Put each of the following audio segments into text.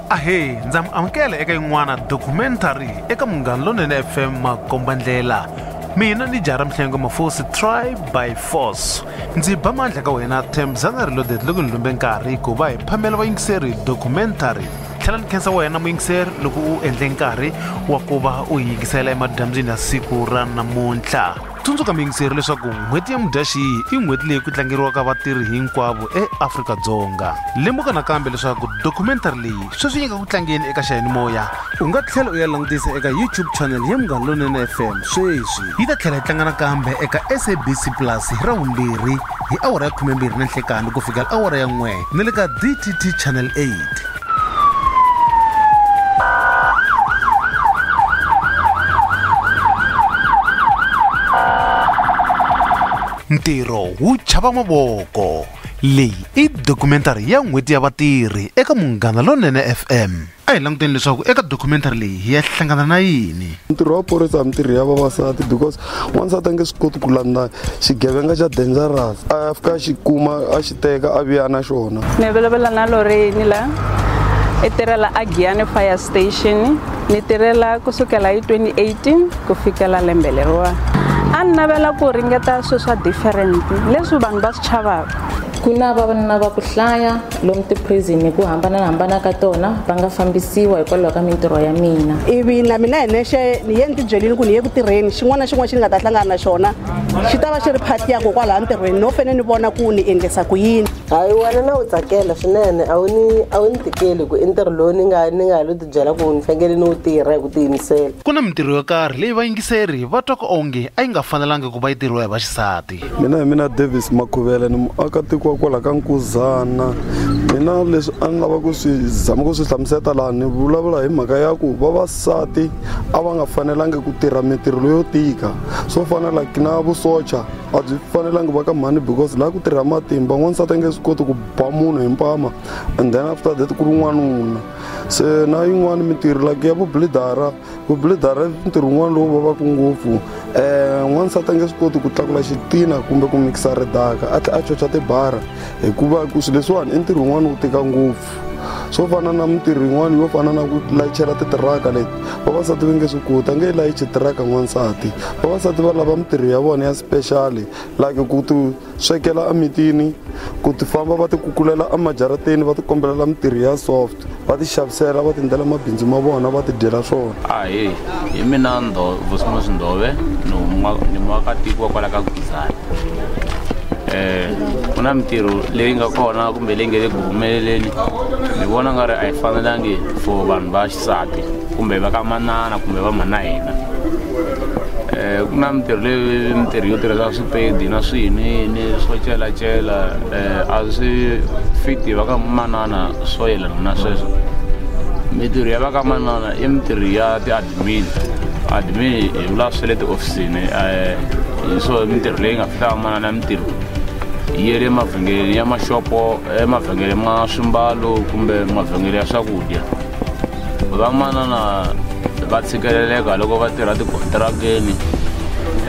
ahee ndza mi amukela eka yin'wana documentary eka munghana lonene fm makombandlela mina ni jara mihlengo mafosi tribe by force ndzi ba mandla ka wena temzana reloaded loko ni lumbe nkarhi ku va hi phamela vayingiseri documentary tlhela ni khensa wena muyingiseri loko u endle nkarhi wa ku va u yingisela emadyambyini ya siku ra namuntlha tsundzuka muyingiseri leswaku n'hweti ya mudyaxihi i n'hweti leyi ku tlangeriwaka vatirhi hinkwavo eafrika-dzonga lemuka nakambe leswaku dokumentary leyi sweswi yi nga ku tlangeni eka xiyanimoya u nga tlhela u ya langutisa eka youtube channel ya munghana lonene fm sweswi yi ta tlhela yi tlanga nakambe eka sabc plus hi ra vumbirhi hi awara ya 12 na nhlekani ku fika awara ya n'we ni le ka dtt channel 8 ntirho wu chava mavoko leyi i dokumentari ya n'hweti ya vatirhi eka munghana lonene fm A hi languteni leswaku eka documentary leyi hi ya hlangana na yini. Ntirho wa phorisa mintirho ya vavasati because wansati a nge swi koti ku landza xigevenga xa dangerous a ya fika a xi kuma a xi teka a vuya na xona. Ni vulavula na Lorraine la i tirhela a Giyani Fire Station ni tirhela ku sukela hi 2018 ku fikela lembe leriwa a ni navela ku ringeta swilo swa different leswi vanhu va swi chavaka. Ku na vavanuna va ku hlaya lomu tiphrizini hi ku hambana-hambana ka tona va nga fambisiwa hikwalaho ka mintirho ya mina. Ivi na mina hi nexe ni ye ni tibyelini ku ni ye ku tirheni, xin'wana na xin'wana xi ni nga ta hlangana na xona xi ta va xi ri phati ya ko kwalaya ntirhweni, no fene ni vona ku ni endlisa ku yini. Hayi wena na wu tsakela swinene, a wu ni a wu ni tikeli hi ku i ntirho lowu ni nga ni nga lo tibyela ku ni fanekele ni wu tirha hi ku tiyimisela. Ku na mintirho yo karhi leyi vayingiseri va twaka onge a yi nga fanelangi ku va yi tirhiwa hi vaxisati. mina hi mina davis makhuvela ni muakatiko wa kwala ka nkuzana mina leswi a ni lava ku swi zama ku swi hlamuseta laha ni vulavula hi mhaka ya ku vavasati a va nga fanelangi ku tirha mintirho leyo tika swo fana like na vusocha a byi fanelangi va ka mhani because laha ku tirha matimba n'wansati a nge swi koti ku ba munhu hi mpama and then after that ku ri n'wanuna se na yin'wani mintirho like ya vublidara ku blidara ntirho wun'wana lowu vavaka ngopfu um eh, n'wansati a nge swi koti ku tlakula xitina kumbe ku mikisa ridaka a tlhe a chocha tibara hikuva ku swilo leswiwani i ntirho wun'wana wu tika ngopfu swo fana na mintirho yin'wana yo fana na ku layichela titiraka leti vavasati va nge swi koti a nge yi layichi tiraka n'wansati vavasati va lava mintirho ya vona ya special like ku ti swekela emitini ku ti famba va ti kukulela emajarateni va ti kombelela mintirho ya soft va ti xavisela va ti endlela mabindzu ma vona va ti dyela swona ahe hi mina vosimo sindove ni muakatiko wa kwala ka guzana um eh, ku na mintirho leyi nga kona kumbe leyi nga le ku humeleleni ni vona nga ri a yi fanelangi for vanhu va sati kumbe va ka manana kumbe va mhana hina eh, ku na mintirho leyi mintirho yo tirhisa swipedi na swiyiniyini swo celacela um eh, a swi fiti va ka manana swo yelana na sweswo mintirho ya va ka manana i mintirho ya ti-admin admin hi vula swe le tihofisini um hi swo mintirho leyi nga fihlaka manana mintirho yi le mavhengeleni ya maxopo emavhengele ma swimbalo kumbe mavhengele ya swakudya vamanana va tshikeleleka loko va tirha tikontirakeni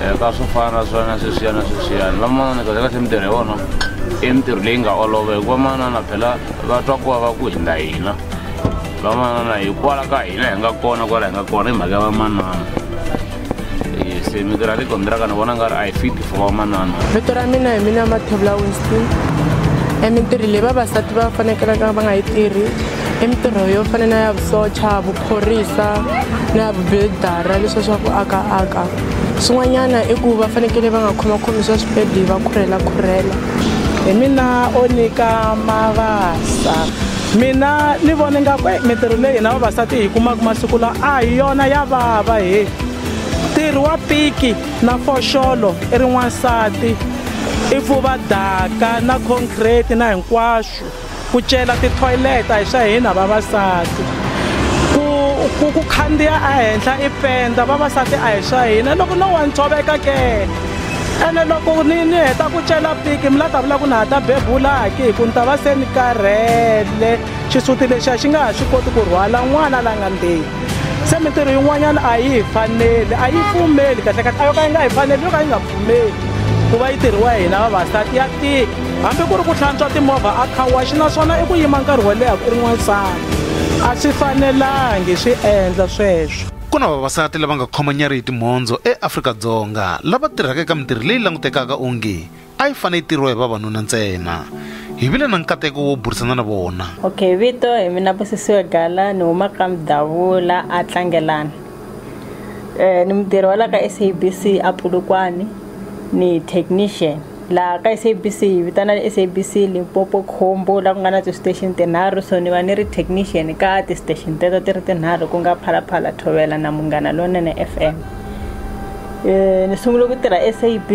eh, ka swo fana na swona sweswiyana sweswiyana vamanana kahle kahle mintirho ya vona i mintirho leyi nga olova hikuva manana phela va twa ku va va ku hindza hina vamanana hikwala ka hina hi nga kona kwala hi nga kona hi mhaka ya vamanana se vito ra le kondiraka ni vona nga ri a yi fit for vamanana vito ra mina hi mina mathevula winston e mintirho leyi vavasati va fanekelaka va nga yi tirhi i mintirho yo fana na ya vusocha vuphorisa na ya vubildara leswa swa ku aka aka swin'wanyana i ku va fanekele va nga khomakhomi swa swipedi va khurhela khurhela hi mina o nyika mavasa Mina ni vona ingaku eyi mintirho leyi hina vavasati hi yi kumaka masiku lawa a hi yona ya vava he ntirho wa piki na foxolo i ri n'wansati i pfuva daka na concrete na hinkwaswo ku cela ti-toilet a hi swa hina vavasati ku ku ku khandziya a henhla i penda vavasati a hi swa hina loko no wa ni tshoveka ke. ene loko ni ni heta ku cela piki mi la ta vula ku na ha ta bebula haki hi ku ni ta va se ni karhele xisuti lexi a xi nga ha swi koti ku rhwala n'wana la nga ndzeni se mintirho yin'wanyana a yi hi faneli a yi pfumeli kahle kahle a yo ka yi nga hi faneli yo ka yi nga pfumeli ku va yi tirhiwa hina vavasati ya tika hambi ku ri ku hlantswa timovha a khawaxi naswona i ku yima nkarhi wo leha ku ri n'wansati a swi fanelangi swi endla sweswo Ku na vavasati lava nga khomanyari hi timhondzo eAfrika-Dzonga lava tirhaka eka mintirho leyi langutekaka onge a yi fanele yi tirhiwa hi vavanuna ntsena. Hi vile na nkateko wo burisana na vona. Okay, vito hi mina Busisiwe Gala ni huma ka Mdavula a Tlangelani. Eh ni mutirhi wa la ka SABC a Pulukwani ni technician. laha ka sabc hi vitana sabc limpopo khombo laha ku nga na ti-station tinharhu so ni va ni ri technician ka ti-station teto ti ri tinharhu ku nga phalaphala thovela na munghana lonene f m um ni sungule ku tirha sabc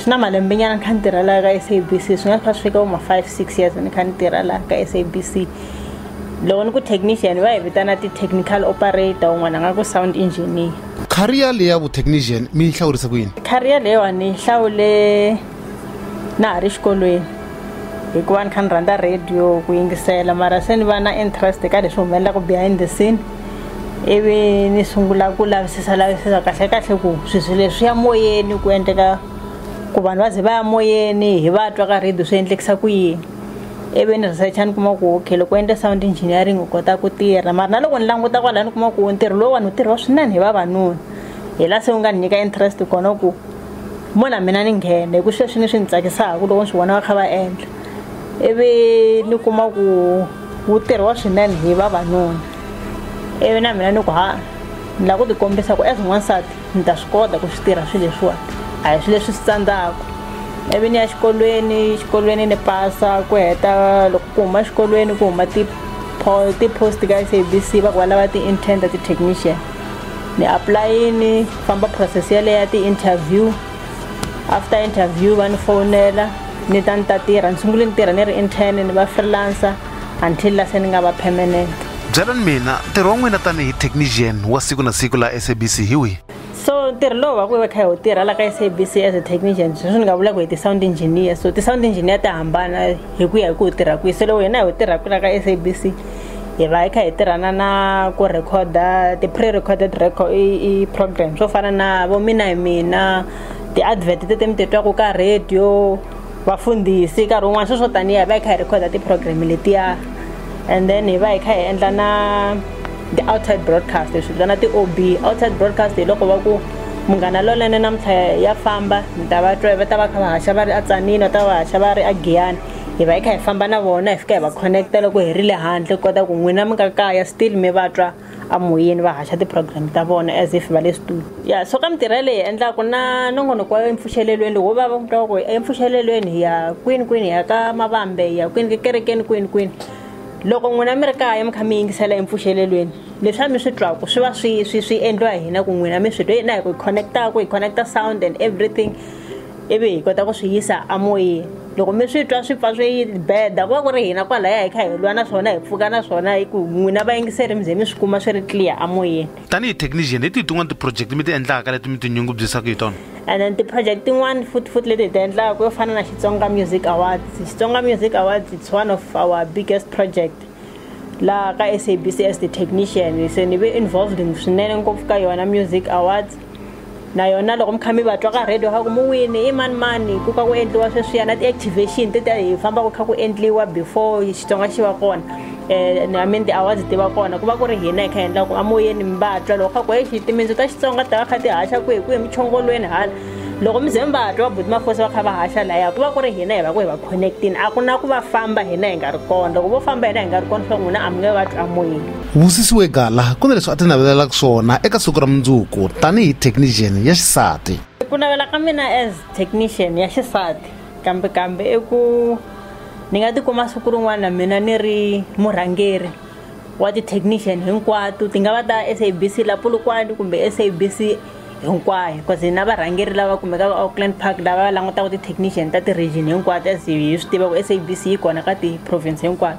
swi na malembe nyana ni kha ni tirha laha ka sabc swi nga kha swi fika voma five six years ni kha ni tirha laha ka sabc loko ni ku technician va hi vitana ti-technical operator un'wana a nga ku sound engineer career leyi ya vutechnician mi yi hlawurise ku yini career leyiwani yi hlawule na ha ri xikolweni hikuva ni kha ni rhandza radio ku yingisela mara se ni va na interest ka leswi humelelaka behind the scene ivi ni sungula ku lavisisa lavisisa kahle kahle ku sweswi leswi ya moyeni ku endleka ku vanhu va ze va ya moyeni hi va twa ka radio swi endlekisa ku yini ivi ni researcha ni kuma ku okay loko endle sound engineering u kota ku tirha mara na loko ni languta kwalaya ni kuma ku ntirho lowu vanhu tirhiwa swinene hi vavanuna hi la se u nga ni nyika interest kona ku mo na mina ni nghene hi ku sweswi ni swi ni tsakisaka loko ni swi vona va kha va endla ivi ni kuma ku wu tirhiwa swinene hi vavanuna ivi na mina ni ku ha ni lava ku tikombisa ku as n'wansati ni ta swi kota ku swi tirha swilo leswiwani a hi swilo leswi swi tsandzaka ivi ni ya xikolweni xikolweni ni pasa ku heta loko ku huma xikolweni ku huma ti-post ka s a b c va ku va lava ti-intern ta ti-technician ni apulayini famba process yaleyo ya ti-interview after interview va ni fowunela ni ta ni ta tirha ni sungule ni tirha ni ri intern ni va freelancer until la se ni nga va permanent byelani mina ntirho wa n'wina tanihi technician wa siku na siku laha sabc hi wihi so ntirho lowu va ku va kha hi wu tirha la ka sabc as a technician sweswi ni nga vula ku hi ti-sound engineer so ti-sound engineer ti hambana hi ku ya hi ku hi tirha kwihi so loko hina hi wu tirhaka la ka sabc hi va hi kha hi tirhana na ku recorda ti-pre recorded record i program swo fana na vo mina hi mina ti-advert tete mi titwaku ka radio vafundhisi nkarhi wun'wana sweswo tanihi hi va hi kha hi rhekhoda ti-program letiya and then hi va hi kha hi endla na ti-outside broadcast hi swi vitana ti-o b outside broadcast hi loko va ku munghana lolene namuntlha ya famba mi ta va twa va ta va kha va haxa va ri a tsanini va ta va haxa va ri a giyani hi va hi kha hi famba na vona hi fika hi va connect-a loko hi ri le handle ku kota ku n'wina mi nga kaya still mi va twa amoyeni va haxa ti-program ta vona as if va le studio ya so ka mintirho leyi endlaku na nongonoko wa empfuxelelweni lowu va va vutaka ku empfuxelelweni hi ya kwini kwini hi ya ka mavambe hi ya kwini kekerekeni kwini kwini loko n'wina mi ri kaya mi kha mi yingisela empfuxelelweni leswi a mi swi twaku swi va swi swi swi endliwa hina ku n'wina mi swi twa na hi ku hi connectaku hi connecta sound and everything ivi hi kota ku swi yisa amoyeni loko mi swi twa swi pfa swi yi beda ku va ku ri hina kwalaya hi kha hi lwa na swona hi pfuka na swona hi ku n'wina vayingiseri mi ze mi swi kuma swi ri clear amoyeni tanihi technician hi tihi tin'wana ti-project mi ti endlaka leti mi tinyungubyisaka hi tona and then ti-project tin'wana futi futi leti hi ti endlaka yo fana na xitsonga music awards xitsonga music awards it's one of our biggest project laha ka sabc as the technician se ni ve involved swinene ngopfu ka yona music awards na yona loko mi kha mi va twa ka radio kha ku mi wini i mani mani ku ka ku endliwa sweswiya na ti-activation ti ta hi famba ku kha ku endliwa before xitsonga xi va kona um i mean ti-awards ti va kona ku va ku ri hina hi kha hi endla ku amoyeni mi va twa loko kha ku exi timindzo ta xitsonga ta va kha ti haxa kwihi kwihi michongolweni hala loko mi ze mi va twa vabuti mafosi va kha va haxa laya ku va ku ri hina hi va ku hi va connectini a ku na ku va famba hina hi nga ri kona loko vo famba hina hi nga ri kona swa n'wina a mi nge va twi amoyeni Vusisiwe Gala ku na leswi a ti navelelaka swona eka siku ra mundzuku tanihi technician ya xisati. Ku navela ka mina as technician ya xisati kambe kambe i ku ni nga tikuma siku rin'wana mina ni ri murhangeri wa ti-technician hinkwato ti nga va ta S_A_B_C la Polokwane kumbe S_A_B_C hinkwayo cause hi na varhangeri lava kumekaka va Auckland Park lava langutaka ti-technician ta ti-region hinkwato as hi swi tiva ku S_A_B_C yi kona ka ti-province hinkwato.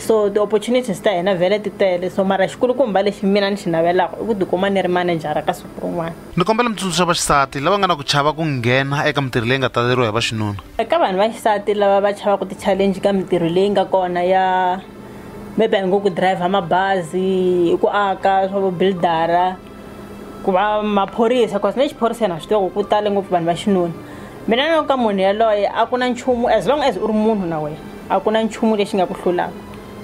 so ti-opportunities ta hina vhele ti tele so mara xikulukumba lexi mina ni xi navelaka i ku tikuma ni ri manejara ka siku rin'wana ni kombela mi tsundzuxa vaxisati lava nga na ku chava ku nghena eka mintirho leyi nga taleriwa hi vaxinuna eka vanhu va xisati lava va chavaku ti-challenge ka mintirho leyi nga kona ya maybe a hi ngo ku driver mabazi ku aka swa vubuildara ku va maphorisa bcause ni le xiphoriseni a swi tiva ku ku tale ngopfu vanhu va xinuna mina ni ka munhu yaloye a ku na nchumu as long as u ri munhu na wena a ku na nchumu lexi nga ku hlulaka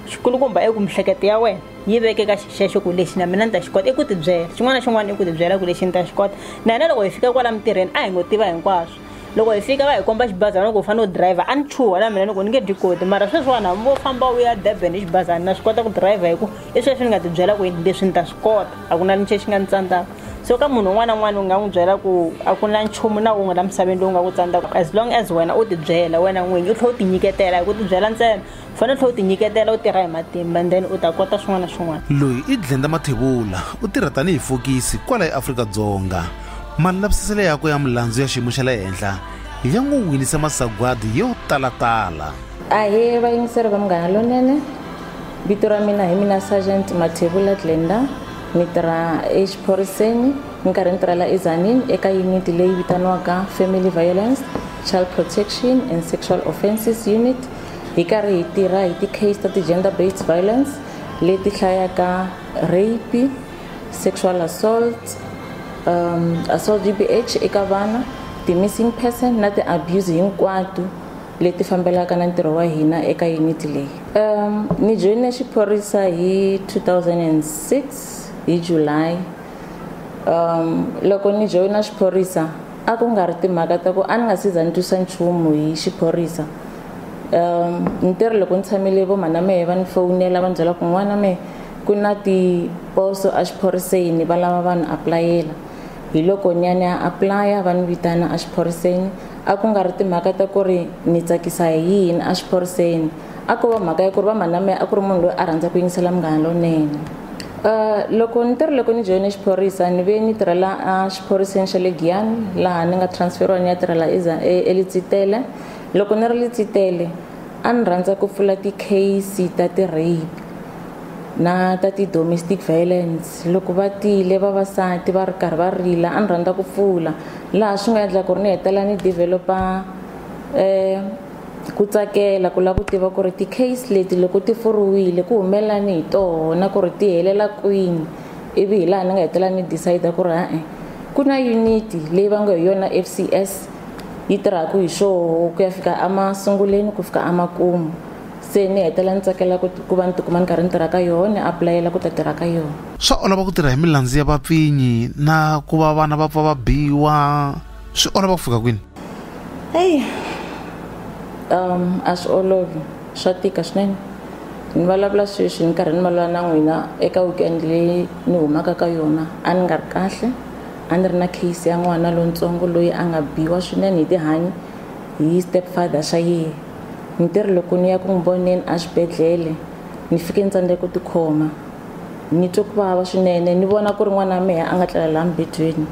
xikulukumba i ku mihleketo ya wena yi veke ka xixexo ku lexi na mina ni ta xi kota i ku tibyela xin'wana na xin'wana i ku tibyela ku lexi ni ta xi kota na hina loko hi fika kwala mintirhweni a hi ngo tiva hinkwaswo loko hi fika va hi komba xibazana loko hi fanele u driver a ni chuha na mina ni ku ni nge dyi koti mara sweswiwani hambi vo famba u ya durban hi xibazana na swi kota ku driver hi ku i sweswi ni nga tibyela ku yini leswi ni ta swi kota a ku na linche xi nga ni tsandzaka so ka munhu un'wana na un'wana u nga n'wi byela ku a ku na nchumu na wun'we la misaveni lowu nga ku tsandzaka as long as wena u tibyela wena n'winyi u tlhela u tinyiketela hi ku tibyela ntsena u fanele tlhela u tinyiketela u tirha hi matimba and then u ta kota swin'wana na swin'wana loyi i dlenda mathevula u tirha tanihi fokisi kwala eafrika-dzonga malavisiselo yakwe ya milandzu ya xiyimo xa le henhla ya n'wi winise masagwadi yo talatala ahee vayingiseri va munghana lonene vito ra mina hi mina sergeant mathevula glenda ni tirha exiphoriseni ni karhi ni tirha la ezanin eka yuniti leyi vitaniwaka family violence child protection and sexual offences unit hi karhi hi tirha hi ti-case ta ti-gender based violence leti hlayaka rape sexual assault um, assault g b h eka vana ti-missing person na ti-abuse hinkwato leti fambelaka na ntirho wa hina eka yuniti leyi um ni joyine xiphorisa hi 2006 hi july um loko ni joyina xiphorisa A ku nga ri timhaka ta ku a ni nga si za ni twisa nchumu hi xiphorisa. Um, ni te ri loko ni tshamile vo mana mehe va ni fowunela va ni byela ku n'wana mehe ku na tiposo exiphoriseni va lava vanhu aplayela hi loko ni ya ni ya aplaya va ni vitana exiphoriseni a ku nga ri timhaka ta ku ri ni tsakisa hi yini exiphoriseni a ko va mhaka ya ku ri va mhana mehe a ku ri munhu loyi a rhandza ku yingisela munghana lonene Uh, loko ni tirhi loko ni joyine xiphorisa ni ve ni tirhela uh, xiphoriseni xa le giyani laha ni nga transferiwa ni ya tirhela e, elitsitele loko ni ri litsitele a ni rhandza ku pfula ti-case ta ti-rape na ta ti-domestic violence loko va tile vavasati va ri karhi va rila a ni rhandza ku pfula laha swi nga endla ku ri ni hetelela ni developa um eh, Ku tsakela ku lava ku tiva ku ri ti-case leti loko ti furiwile ku humelelani hi tona ku ri ti helela kwini ivi hi laha ni nga hetelela ni decide ku ri ha-e ku na unit leyi va ngo hi yona FCS yi tirhaka hi swoho ku ya fika emasunguleni ku fika emakumu se ni hetelela ni tsakela ku ku va ni tikuma ni karhi ni tirha ka yona ni apulayela ku ta tirha ka yona. Swa olova ku tirha hi milandzu ya vapfinyi na ku va vana va pfa va biwa. swi olova ku fika kwini heyi um a swi olovi swa tika swinene ni vulavula sweswi ni karhi ni vulavula na n'wina eka weekend leyi ni humaka ka yona a ni nga ri kahle a ni ri na case ya n'wana lontsongo loyi a nga biwa swinene hi tihanyi hi step father xa yehe ni ti ri loko ni ya ku n'wi voneni exibedhlele ni fike ni tsandzeke ku tikhoma ni twe ku vava swinene ni vona ku ri n'wana wa mehe a nga tlela laha mubedweni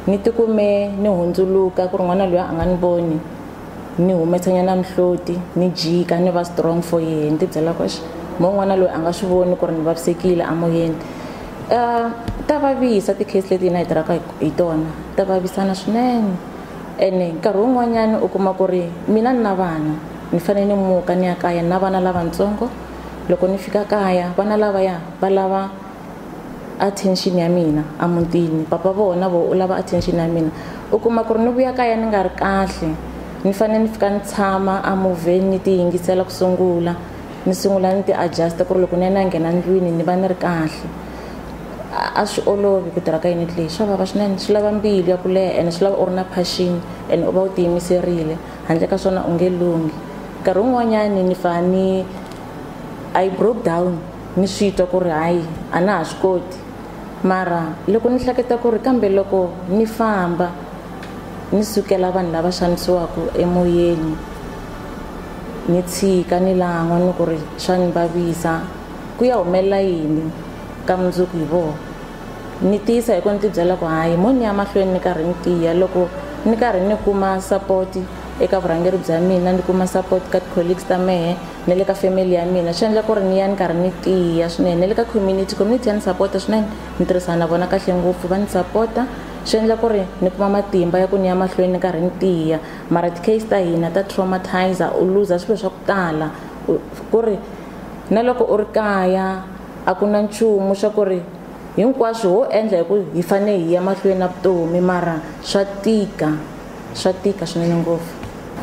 ni tikume ni hundzuluka ku ri n'wana loyi a nga ni voni ni humesanyana mihloti ni jika ni va strong for yehe ni tibyela ku mo n'wana loyi a nga swi voni ku ri ni vavisekile amoyeni um eh, ta vavisa ti-case leti hina hi tirhaka hi tona ta vavisana swinene ene nkarhi wun'wanyana u kuma ku ri mina ni na vana ni fanele ni muka ni ya kaya ni na vana lavatsongo loko ni fika kaya vana lavaya va lava attention ya mina a mutini papa voho na voho u lava attention ya mina u kuma ku ri ni vuya kaya ni nga ri kahle ni fanele ni fika ni tshama a movheni ni ti yingisela ku sungula ni sungula ni ti adjust ku ri loko ni ya ni ya nghena ndlwini ni va ni ri kahle a swi olovi ku tirha ka unit leyi swa vava swinene swi lava mbilu ya ku leha ene swi lava u ri na passion ene u va u tiyimiserile handle ka swona u nge lunghi nkarhi wun'wanyani ni fa ni I broke down. ni swi twa ku ri hayi a na ha swi koti mara loko ni hleketa ku ri kambe loko ni famba ni sukela vanhu lava xanisiwaka emoyeni ni tshika ni lan'wa ni ku ri swa ni vavisa ku ya humelela yini ka mundzuku hi vona ni tiyisa hi ku ni tibyela ku hayi mo ni ya mahlweni ni karhi ni tiya loko ni karhi ni kuma support eka vurhangeri bya mina ni kuma support ka ti-colleagues ta mehe na le ka family ya mina swi endla ku ri ni ya ni karhi ni tiya swinene na le ka community community ya ni sapota swinene ni tirhisana na vona kahle ngopfu va ni sapota swi endla ku ri ni kuma matimba ya ku ni ya mahlweni ni karhi ni tiya mara ti-case ta hina ta traumatizer u luza swilo swa ku tala ku ri na loko u ri kaya a ku na nchumu swa ku ri hinkwaswo ho endla hi ku hi fanele hi ya mahlweni na vutomi mara swa tika swa tika swinene ngopfu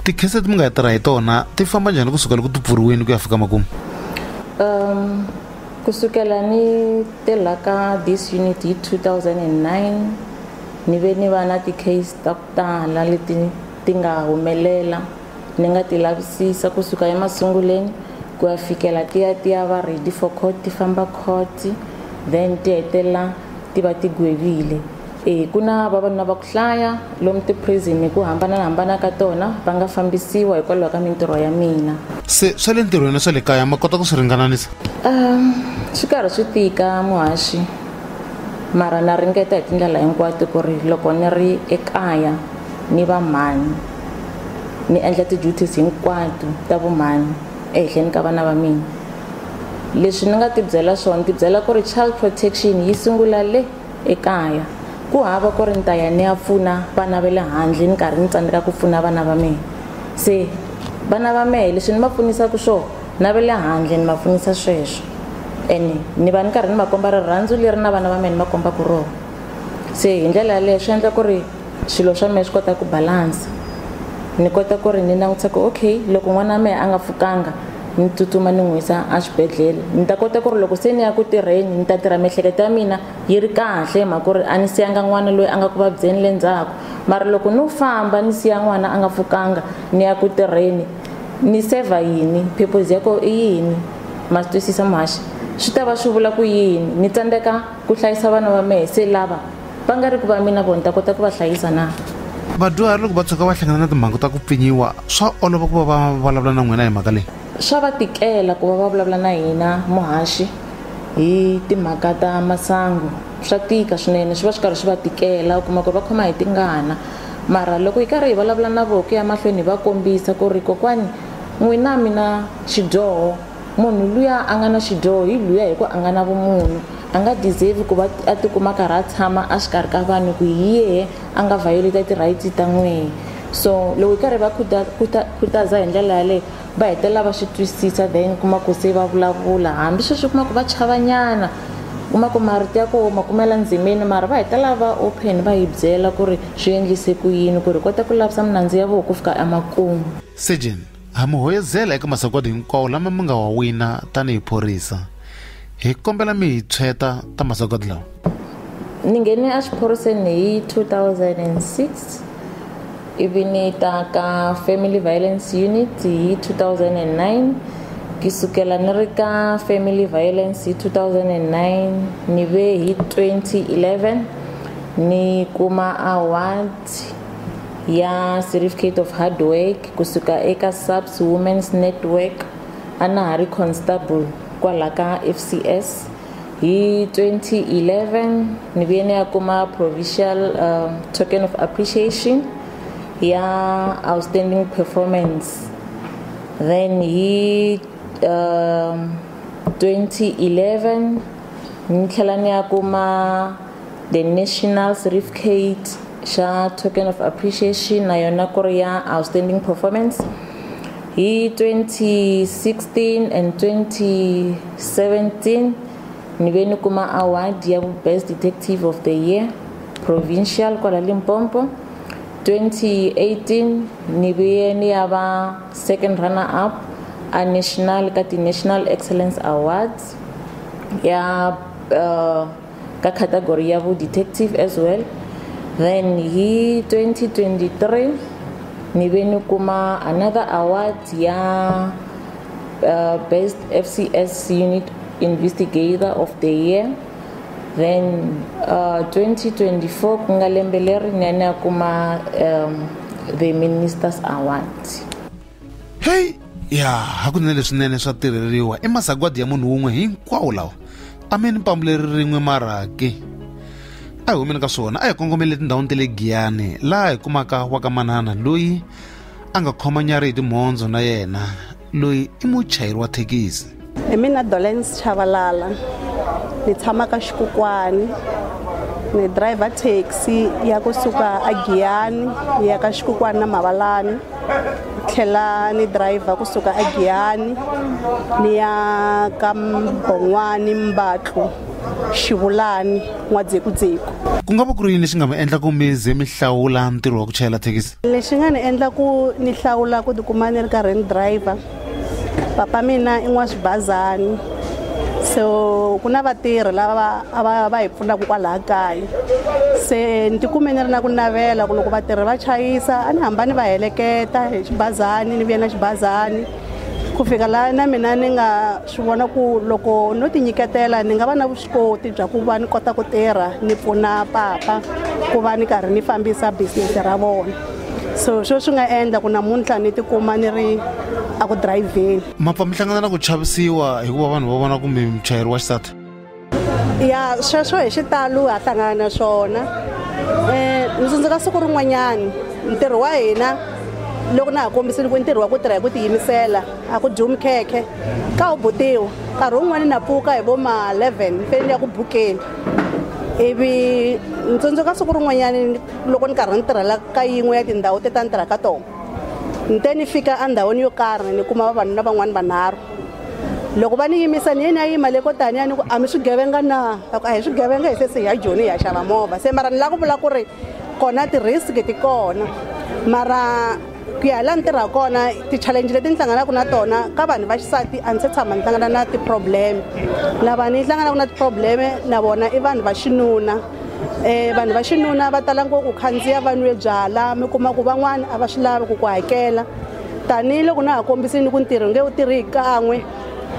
tikhese leti mi nga tirha hi tona ti famba njhani ku sukela ku ti pfuriwini ku ya fika makumu um ku sukela ni tirha ka this unit hi 2009 ni ve ni va na ti-case ta ku tala leti ti nga humelela ni nga ti lavisisa ku suka emasunguleni ku ya fikela ti ya ti ya va ready for court ti famba court then ti hetelela ti va ti gwevile E, ku na vavanuna va ku hlaya lomu tiprison hi ku hambanahambana ka tona va nga fambisiwa hikwalaho ka mintirho ya mina se swa le ntirhweni na swa le kaya ma kota ku swi ringananisa um swi karhi swi tika muhaxi mara na ringeta hi tindlela hinkwato ku ri loko ni ri ekaya ni va mhani ni endla ti-duties hinkwato ta vumhani ehenhleni ka vana va mina leswi ni nga tibyela swona tibyela ku ri child protection yi sungula le ekaya. Ku hava ku ri ni ta ya ni ya pfuna vana va le handle ni karhi ni tsandzeka ku pfuna vana va mehe. Se vana va mehe leswi ni va pfunisaka swona na va le handle ni va pfunisa sweswo and ni va ni karhi ni va komba rirhandzu leri na vana va mehe ni va kombaka rona. Se hi ndlela yaleyo swi endla ku ri. swilo swa mehe swi kota ku balansa ni kota ku ri ni langutisa ku okay loko n'wana wa mehe a nga pfukanga ni tsutsuma ni n'wi yisa exibedhlele ni ta kota ku ri loko se ni ya ku tirheni ni ta tirha miehleketo ya mina yi ri kahle hi mhaka ku ri a ni siyanga n'wana loyi a nga ku vabyeni le ndzhaku mara loko no famba ni siya n'wana a nga pfukanga ni ya ku tirheni ni saver yini purpose ya ko i yini ma swi twisisa muhaxi swi ta va swi vula ku yini ni tsandzeka ku hlayisa vana va mehe se lava va nga ri ku va mina vona ta kota ku va hlayisa na vadyuhari loko va tshuka va hlangana na timhangu ta ku pfinyiwa swa olova ku va va vulavula na n'wina hi mhaka leyi swa va tikela ku va va vulavula na hina muhaxi hi timhaka ta masangu swa tika swinene swi va swi karhi swi va tikela u kuma ku ri va khoma hi tingana mara loko hi karhi hi vulavula na vona ku ya mahlweni hi va kombisa ku ri kokwani n'wina mina xidyoho Munhu luya a nga na xidyoho hi luya hi ku a nga na vumunhu. A nga deserve ku va a tikuma a karhi a tshama a xikarhi ka vanhu ku hi yehe a nga violate ti-rights ta n'wehe. So loko hi karhi hi va khutaza hi ndlela yaleyo va hetelela va swi twisisa then kuma ku se va vulavula hambi sweswi u kuma ku va chavanyana kuma ku marito ya koho ma kumela ndzimini mara va hetelela va open va hi byela ku ri swi endlise ku yini ku ri hi kota ku lavusa minandzu ya voho ku fika emakumu. Surgeon, Ha mi hoyozela eka masagwadi hinkwawo lama mi nga wa wina tanihi phorisa. Hi kombela mi hi tshweta ta masagwadi lawa. Ni nghene exiphoriseni hi 2006 ivi ni ta ka family violence unit hi 2009 ki sukela ni ri ka family violence hi 2009 ni ve hi 2011 ni kuma award ya certificate of hard work kusuka eka SAPS Women's Network a na ha ri constable kwala ka FCS hi 2011 ni vuye ni ya kuma provincial um, token of appreciation ya outstanding performance then hi um, 2011 ni tlhela ni ya kuma the national certificate xa token of appreciation na yona ku ri ya outstanding performance hi 2016 and 2017 ni ve ni kuma award ya best detective of the year provincial kwala limpopo 2018 ni ve ni ya va second runner up a national ka ti-national excellence awards ya uh, ka category ya bo detective as well then hi 2023 ni ve ni kuma another award ya uh, best fcs unit investigator of the year then uh, 2024 ku nga lembe leri ni ya ni ya kuma um, the ministers award heyi ya hakunene leswinene swa tirheriwa i masagwadi ya munhu wun'we hinkwawo lawa a mi ni pambu leri rin'we maraki a hi humeni ka swona a hi kongomele tindhawini ta le giyani laha hi kumaka wa ka manana loyi a nga khoma nyari hi timhondzo na yena loyi i muchayeri wa thekisi hi mina dolens chavalala ni tshama ka xikukwani ni driver taxi ya kusuka a giyani yi ya ka xikukwani na mavalani tlhela ni driver kusuka a giyani ni ya ka mbon'wani mbatlu xivulani n'wadzekudzeku ku nga va ku ri yini lexi nga mi endla ku mi ze mi hlawula ntirho wa ku chayela thekisi lexi nga ni endla ku ni hlawula ku tikuma ni ri karhi ni driver papa mina i n'waswibazani so ku na vatirhi lava va va hi pfunaka kwalaha kaya se ni tikume ni ri na ku navela ku loko vatirhi va chayisa a ni hamba ni va heleketa hi xibazani ni vuya na xibazani ku fika laha na mina ni nga swi vona ku loko no ti nyiketela ni nga va na vuswikoti bya ku va ni kota ku tirha ni pfuna papa ku va ni karhi ni fambisa business ra vona so swo swi nga endla ku namuntlha ni tikuma ni ri a ku dirayivheni ma pfa mi hlangana na ku chavisiwa hikuva vanhu va vona kumbe muchayeri wa xisati ya sweswo hi xitalo ha hlangana na swona um ni tsundzuka siku rin'wanyani ntirho wa hina loko na ha kombisile ku ntirho wa ku tirha hi ku tiyimisela a ku dyiwi mikhekhe ka wu butiwa nkarhi wun'wana na pfuka hi vo ma-11 ni fanele ni ya ku bukeni ivi ni tsundzuka siku rin'wanyani loko ni karhi ni tirhela ka yin'we ya tindhawu teti a ni tirha ka tona ni te ni fika endhawini yo karhi ni kuma vavanuna van'wana vanharhu loko va ni yimisa ni yeni a yima le ko tani a ni ku a mi swigevenga na a ku a hi swigevenga hi se se hi ya joni hi ya xava movha se mara ni lava ku vula ku ri kona ti-risk ti kona mara ku ya hi laha ni tirha kona ti-challenge leti ni hlanganaka na tona ka vanhu va xisati a ni se tshama ni hlangana na ti-problem lava ni hlanganaka na ti-problem na vona i vanhu va xinuna um vanhu va xinuna va tala ngopfu khandziya va nwe byala mi kuma ku van'wana a va swi lavi ku ku hakela tanihiloko na ha kombisini ku ntirho nge wu tirhi hi kan'we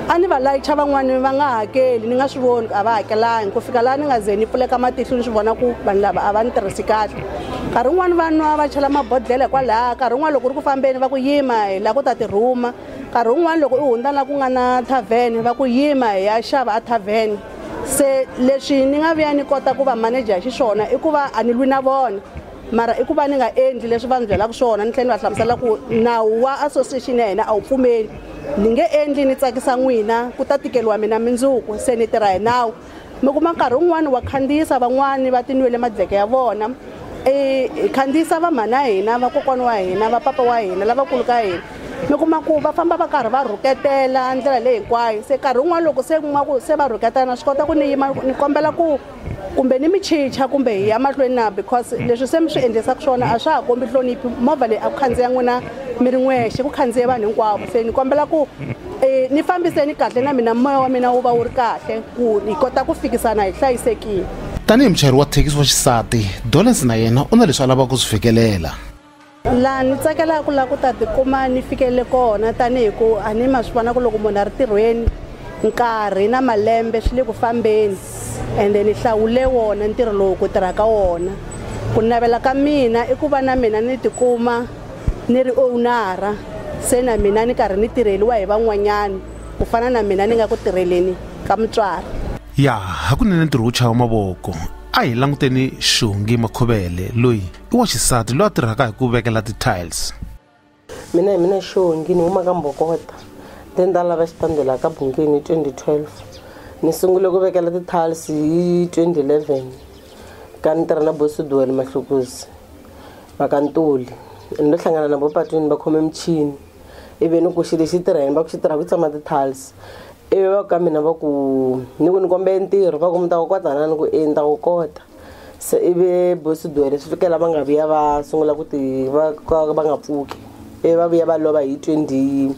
a ni va layicha van'wani va nga hakeli ni nga swi voni ku a va hakelangi ku fika laha ni nga ze ni pfuleka matihlo ni swi vona ku vanhu lava a va ni tirhisi kahle nkarhi wun'wani va nwa va chela mabodhlele hikwalaha nkarhi wun'wani loko ri ku fambeni va ku yima hi laha ku ta ti rhuma nkarhi wun'wani loko u hundza la ku nga na thavhene va ku yima hi ya xava a thavhene se leswi ni nga vuya ni kota ku va manager hi xiswona i ku va a ni lwi na vona mara i ku va ni nga endli leswi va ni byelaka swona ni tlhela ni va hlamusela ku nawu wa association ya hina a wu pfumeli ni nge endli ni tsakisa n'wina ku ta tikeriwa mina mindzuku se ni tirha hi nawu mi kuma nkarhi wun'wani wa khandziyisa van'wani va tinwele madleke ya vona hi khandziyisa vamhana hina vakokwana wa hina va papa wa hina lavakulu ka hina mi kuma ku va famba va karhi va rhuketela ndlela leyi hinkwayo se nkarhi wun'wana loko se kuma ku se va rhuketela na swi kota ku ni yima ni kombela ku kumbe ni mi chicha kumbe hi ya mahlweni na because leswi se mi swi endlisaka swona a swa ha kombi hloniphi movha leyi a ku khandziya n'wina mi ri n'wexe ku khandziye vanhu hinkwavo se ni kombela ku um ni fambiseni kahle na mina moya wa mina wu va wu ri kahle ku hi kota ku fikisana hi hlayisekile tanihi muchayeri wa thekisi wa xisati dolens na yena u na leswi a lavaka ku swi fikelela laha ni tsakelaka ku lava ku ta tikuma ni fikelele kona tanihi ku a ni ma swi vona ku loko munhu a ri tirhweni nkarhi na malembe swi le ku fambeni ende ni hlawule wona ntirho lowu ku tirha ka wona ku navela ka mina i ku va na mina ni tikuma ni ri ownara se na mina ni karhi ni tirheliwa hi van'wanyana ku fana na mina ni nga ku tirheleni ka mutswari ya hakunene ntirho wo chava mavoko a hi languteni xihungi makhovele loyi i wa xisati loyi a tirhaka hi ku vekela ti-tiles mina hi mina xongi ni huma ka mbokota then nda lava xitandi laha ka bungeni hi 2012 ni sungule ku vekela ti-tiles hi 2011 ka ni tirha na bosiduwele mahlukuzi vakantuli ni lo hlangana na vopatwini va khome michini ivi ni ku xi lexi tirha yini va ku xi tirha ku tshama ti-tiles ivi va ka mina va ku ni ku ni kombele ntirho va ku mi ta wu kota na ni ku e ni ta wu kota se ivi bosidwele swi fikela va nga vuya va sungula ku ti va ka va nga pfuki ivi va vuya va lova hi twenty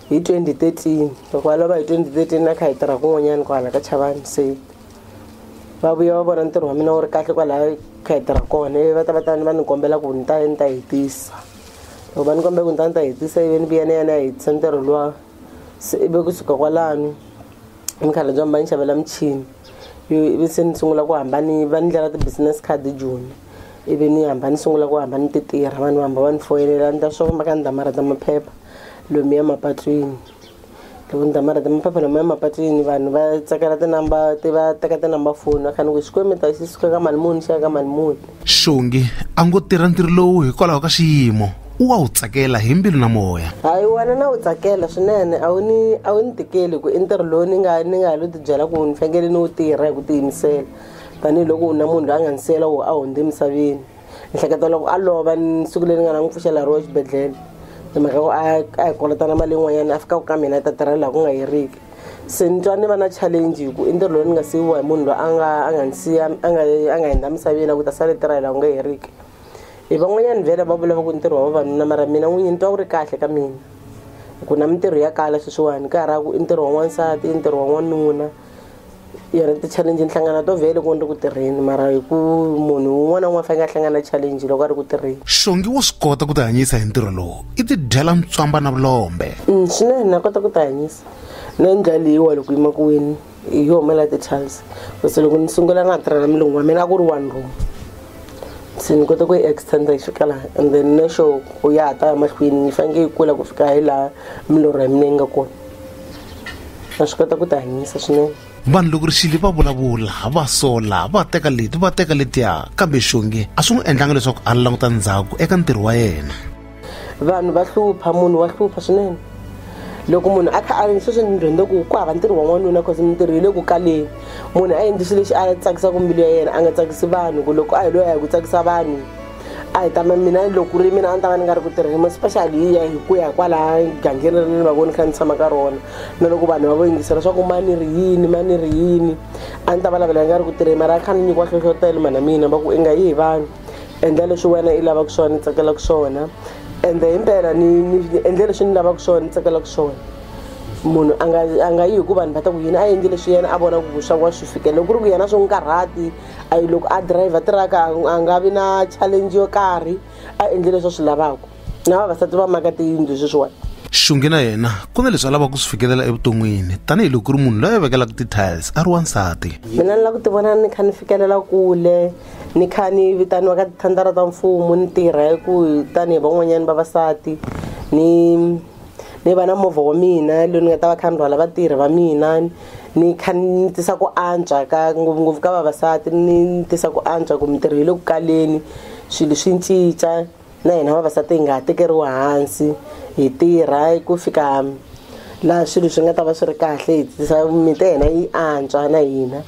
hi twenty thirteen loko va lova hi twenty thirteen na kha hi tirha kun'wanyana kwala ka chavani se va vuya va vona ntirho wa mina wu ri kahle kwalaya kha hi tirha kona ivi va ta va ta ni va ni kombela ku ni ta ni ta hetisa loko va ni kombela ku ni ta ni ta hetisa ivi ni vuya ni ya ni ya hetisa ntirho luwa se ivi kusuka kwalano ni khale bya mi va ni xavela michini ivi se ni sungula ku hamba ni va ni ndlela ti-business card joni ivi ni hamba ni sungula ku hamba ni ti tirha vanhu va hamba va ni foyinela ni ta swi famba ka ni ta ma rhandza maphepha lomuya mapatwini loko ni ta ma rhandza maphepha lomuya mapatwini vanhu va tsakela ti-number ti va teka ti-number foni va kha ni ku Xikwembu mi ta xi suka ka mali muni xi ya ka mali muni. xongi a ngo tirha ntirho lowu hikwalaho ka xiyimo u wa wu tsakela hi mbilu na moya hayi wena na wu tsakela swinene a wu ni a wu ni tikeli ku i ntirho lowu ni nga ni nga ha lo tibyela ku ni fanekele ni wu tirha hi ku tiyimisela tanihiloko u na munhu loyi a nga ni siyela wo a hundze emisaveni ni hleketa loko a lova ni siku leri ni nga na n'wi pfuxela ro exibedhlele hi mhaka ku a a hi kolotana mali yin'wanyana a fikaka ka mina a ta tirhela laha ku nga heriki se ni twa ni va na challenge hi ku i ntirho lowu ni nga siyiwa hi munhu loyi a nga a nga ni siya a nga a nga hindza misaveni a ku ta sale tirha hi laha ku nga heriki hi van'wanyana vhele va vula va ku ntirho wa vavanuna mara mina n'winyi ni twa wu ri kahle ka mina hi ku na mintirho ya kala sweswiwani ka ha ri ku i ntirho wa n'wansati i ntirho wa n'wanuna ya ri ti-challenge ni hlangana to vhele loko ni ri ku tirheni mara hi ku munhu un'wana na un'wana faneke a hlangana challenge loko a ri ku tirheni xongi wo swi kota ku tihanyisa hi ntirho lowu i tidyela ntswamba na vulombe mm, swinene na kota ku tihanyisa na ndlela leyiwa loko yi makuweni hi yo humela ti-charles base loko ni sungula na tirha na milungu wa mina a ku ri one room se ni kota ku yi extenda yi fika laha and then na xo ku ya ha ta ya mahlweni yi faneke yi kula ku fika hi laha milorho ya mina yi nga kona va swi kota ku ti hanyisa swinene vanhu loko rixili va vulavula va sola va teka leti va teka letiya kambe xonge a swi n'wi endlanga leswaku a languta ndzhaku eka ntirho wa yena vanhu va hlupha munhu wa hlupha swinene loko munhu a kha a sweswi ni dyondze ku ku hava ntirho wa n'wanuna cause mintirho yi le ku kaleni munhu a endli swilo lexi a tsakisaka mbilu ya yena a nga tsakisi vanhu ku loko a hi loyi a hi ku tsakisa vanhu a hi ta ma mina loko ku ri mina a ni ta va ni nga ri ku tirheni especially hi ya hi ku ya kwalaya gangeni ri ni va voni kha ni tshama ka rona na loko vanhu va vo yingisela swa ku ma ni ri yini ma ni ri yini a ni ta va lavela ni nga ri ku tirheni mara a kha ni nyikiwa nhlohlotelo mhana mina va ku i nga yi hi vanhu endla leswi wena i lavaka swona ni tsakelaka swona ende hi mpela ni ni endle leswi ni lavaka swona ni tsakelaka swona munhu a nga a nga yi hi ku vanhu va ta ku yini a endli leswi yena a vona ku swa wa swi fikela loko ku ri ku yena swi n'wi karhati a yi loko a driver tiraka a nga vi na challenge yo karhi a endle leswi a swi lavaka na vavasati va maka tiyindlu sweswiwani xungi na yena ku na leswi a lavaka ku swi fikelela evuton'wini tanihiloko ku ri munhu loyi a vekelaka ti-tiles a ri wansati mina ni lava ku tivona ni kha ni fikelela kule ni kha ni vitaniwa ka tithandara ta mfumo ni tirha hi ku tanihi van'wanyana vavasati ni ni va na movha wa mina loyi ni nga ta va kha ni rhwala vatirhi va mina ni kha ni tisa ku antswa ka ngopfungopfu ka vavasati ni tisa ku antswa ku mintirho yi le ku kaleni swilo swi cinca na hina vavasati hi nga ha tekeriwi hansi hi tirha ku fika laha swilo swi nga ta va swi ri kahle hi tisa mimiti ya hina yi antswa na hina.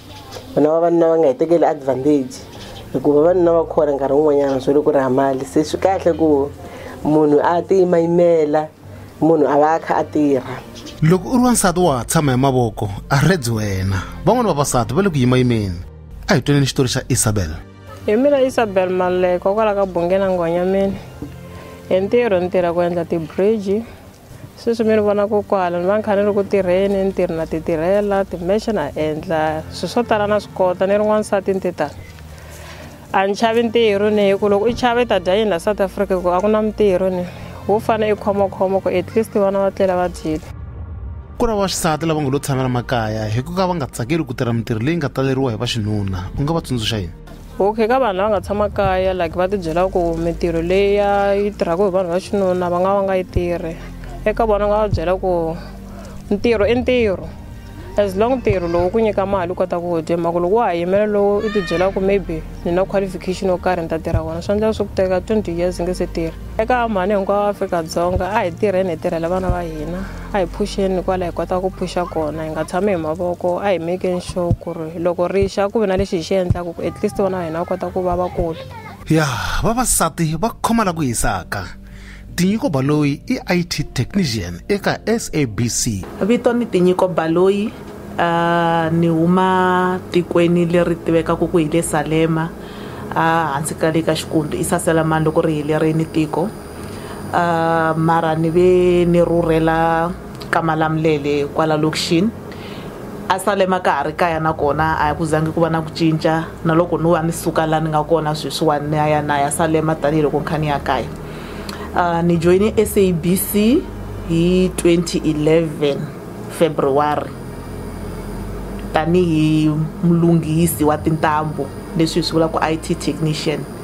vana vavanuna va nga hi tekeli advantage hikuva vavanuna va khora nkarhi wun'wanyana swo le ku raha mali se swi kahle ku munhu a tiyimayimela munhu a va a kha a tirha loko u ri wansati wa ha tshama hi mavoko a reds wena van'wani vavasati va le ku yimayimeni a hi twaneni xitori xa isabel hi mina isabel maleko kwala ka bungena nghwanyameni hi ntirho ni tirha ku endla tibridge sweswi mi ni vona ko kwala ni va ni kha ni ri ku tirheni ni tirhi na ti tirhela timexe na endla swilo swo tala na swi kota ni ri n'wansati ni te tani a ni chavi ntirho ni hi ku loko i chava i ta dya yini la south africa ku a ku na mintirho ni wo fane i khomokhoma ku at least vana va tlela va dyile ku ri vaxisati lava nga lo tshamela makaya hi ku ka va nga tsakeli ku tirha mintirho leyi nga taleriwa hi vaxinuna u nga va tsundzuxa yini okay ka vanhu lava nga tshama kaya like va tibyela ku mintirho leya yi tirhaka hi vanhu va xinuna va nga va nga yi tirhi eka vona nga va byela ku ntirho i ntirho as long ntirho lowu ku nyika mali u kota ku dya mhaka loko wa ha yimela lowu i tibyela ku maybe ni na qualification yo karhi ni ta tirha wona swi endlela swi ku teka twenty years nge se tirha eka mhani hinkwawo afrika-dzonga a hi tirheni hi tirhela vana va hina a hi phuxeni kwala hi kota ku phuxa kona hi nga tshami hi mavoko a hi mekeni sure ku ri loko ri xa ku ve na lexi hi xi endlaka ku at least vana va hina va kota ku va vakulu ya vavasati va khoma la ku hisaka tinyiko baloyi i it technician eka sabc vito ni tinyiko baloyi uh, ni huma tikweni leri tivekaka ku hi le salema uh, hansi ka le ka xikundu i saselamani loko ri helerini tiko uh mara ni ve ni rhurhela ka Malamulele kwala lokixini a Salema ka ha ri kaya nakona a ku zangi ku va na ku cinca na loko no va ni suka la ni nga kona sweswiwani ni ya ya na ya Salema tanihiloko ni kha ni ya kaya uh ni joyine SABC hi 2011 February tanihi mulunghisi wa tintambu leswi hi swi vulaka ku IT technician.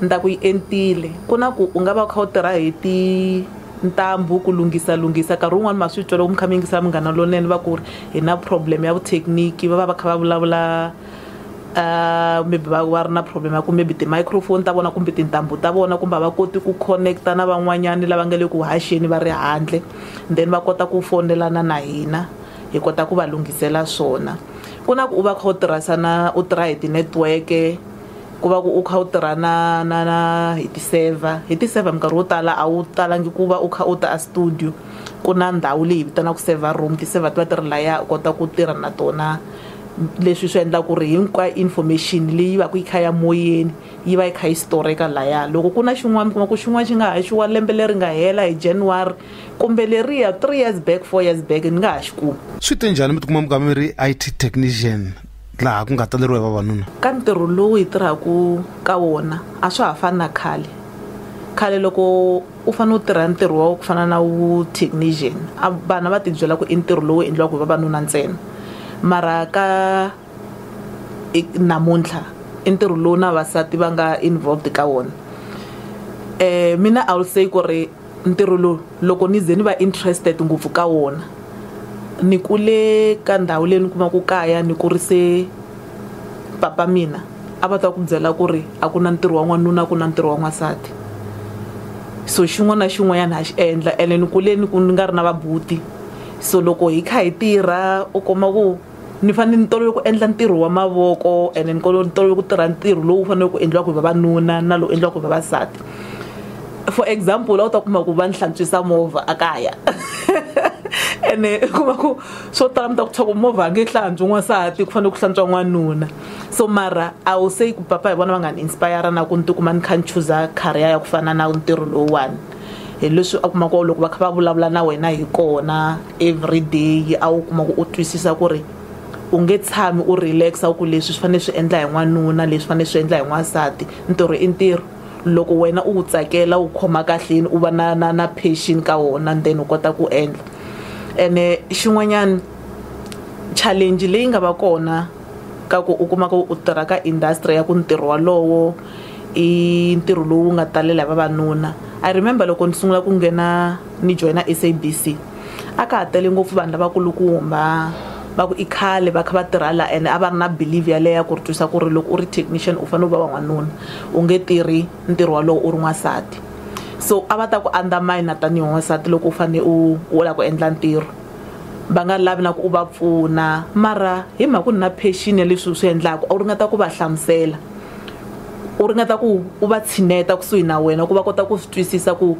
Ni ta ku yi entile ku na ku u nga va u kha u tirha hi tintambu ku lunghisa lunghisa nkarhi wun'wani ma swi twa loko mi kha mi yingisa Munghana Lonene va ku ri hi na problem ya vuthekiniki va va va kha va vulavula maybe va va ri na problem ya ku maybe ti-microphone ta vona kumbe tintambu ta vona kumbe a va koti ku connect-a na van'wanyani lava nga le ku haxeni va ri handle then va kota ku foyinelana na hina hi kota ku va lunghisela swona ku na ku u va u kha u tirhisa na u tirha hi ti-network-e. ku va ku u kha u tirha na na na hi ti-server hi ti-server minkarhi wo tala a wu talangi ku va u kha u ta a studio ku na ndhawu leyi hi vitanaka server room ti-server ti va ti ri laya u kota ku tirha na tona leswi swi endla ku ri hinkwayo information leyi va ku yi kha ya moyeni yi va yi kha yi storeka laya loko ku na xin'wana mi kuma ku xin'wana xi nga haxiwa lembe leri nga hela hi January kumbe leriya three years back four years back ni nga ha xi kumi swi te njhani mi tikuma mi kha mi ri I_T technician laha ku nga taleriwa hi vavanuna ka ntirho lowu hi tirhaka ka wona a swa ha fani na khale khale loko u fanele u tirha ntirho wa ku fana na wu technician a vana va tibyela ku i ntirho lowu endliwaka hi vavanuna ntsena mara ka namuntlha i ntirho lowu na vavasati va nga involved ka wona um mina i will say ku ri Ntirho lowu loko ni ze ni va interested ngopfu ka wona ni kule ka ndhawu leyi ni kuma ku kaya ni kurise papa mina a va ta ku byela ku ri a ku na ntirho wa n'wanuna a ku na ntirho wa n'wansati so xin'wana na xin'wanyana ha xi endla ene ni kule ni ku ni nga ri na va buti so loko hi kha hi tirha u kuma ku ni fanele ni tolovele ku endla ntirho wa mavoko and ni tolovele ku tirha ntirho lowu faneleke ku endliwaka hi vavanuna na lowu endliwaka hi vavasati for example a wu ta kuma ku va ni hlantswisa movha a kaya ene u kuma ku swo tala mi ta ku tshwaku movha a nge hlantswi n'wansati ku fanele ku hlantswa n'wanuna so mara a wu se ku papa hi vona va nga ni inspire na ku ni tikuma ni kha ni chuza career ya ku fana na ntirho lowuwani hi leswi a kuma ku loko va kha va vulavula na wena hi kona everyday a wu kuma ku u twisisa ku ri u nge tshami u relaxa u ku leswi swi fanele swi endla hi n'wanuna leswi fanele swi endla hi n'wansati ntirho i ntirho loko wena u wu tsakela wu khoma kahleni u va na na na passion ka wona and then u kota ku endla ene xin'wanyana challenge leyi nga va kona ka ku u kuma ku u tirha ka industry ya ku ntirho walowo i ntirho lowu nga talela hi vavanuna I remember loko ni sungula ku nghena ni joyina SABC a ka ha tele ngopfu vanhu lavakulukumba va ku i khale va kha va tirha la ene a va ri na believe yaleyo ya ku ri twisa ku ri loko u ri technician u fanele u va va n'wanuna u nge tirhi ntirho wolowo u ri n'wansati so a va ta ku undermine tanihi n'wansati loko u fanele u u lava ku endla ntirho va nga lavi na ku u va pfuna mara hi mhaka ku ri na passion ya leswi u swi endlaka u ringeta ku va hlamusela. u ringeta ku u va tshineta kusuhi na wena ku va kota ku swi twisisa ku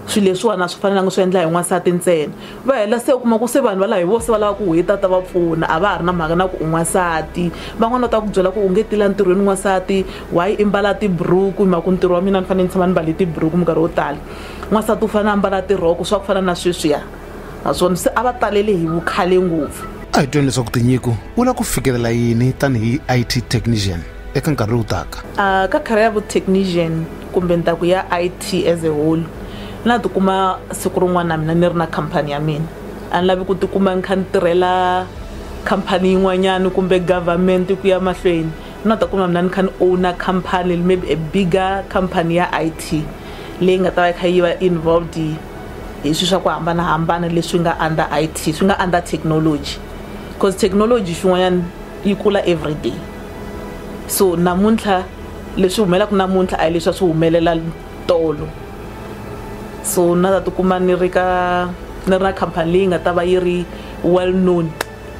swilo leswiwani a swi fanelanga swi endla hi n'wansati ntsena va hela se u kuma ku se vanhu valava hi vo se va lava ku hi ta ta va pfuna a va ha ri na mhaka na ku u n'wansati van'wani va ta ku byela ku u nge ti la ntirhweni n'wansati why i mbala tiburuku hi mhaka ku ntirho wa mina ni fanele ni tshama ni mbale tiburuku minkarhi yo tala n'wansati u fanele a mbala tirhoko swa ku fana na sweswiya. naswona se a va talele hi vukhale ngopfu a hi twini leswaku tinyiko u lava ku fikelela yini tanihi it technician eka nkarhi lowu taka uh, ka khara ya vutechnician kumbe ntaku ya it as a whole na tikuma siku rin'wana na mina ni ri na khampani ya mina a ni lavi ku tikuma ni kha ni tirhela khampani yin'wanyana kumbe government ku ya mahlweni na ta kuma mina ni kha ni owna khampani maybe a bigger khampani ya it leyi nga ta va yi kha yi va involved hi swi swa ku hambanahambana leswi nga under it swi nga under technology because technology swin'wanyana yi kula everyday so namuntlha leswi humelaka namuntlha a hi leswi a swi humelela tolo so na ta tikuma ni ri ka ni ri na khampani leyi nga ta va yi ri well known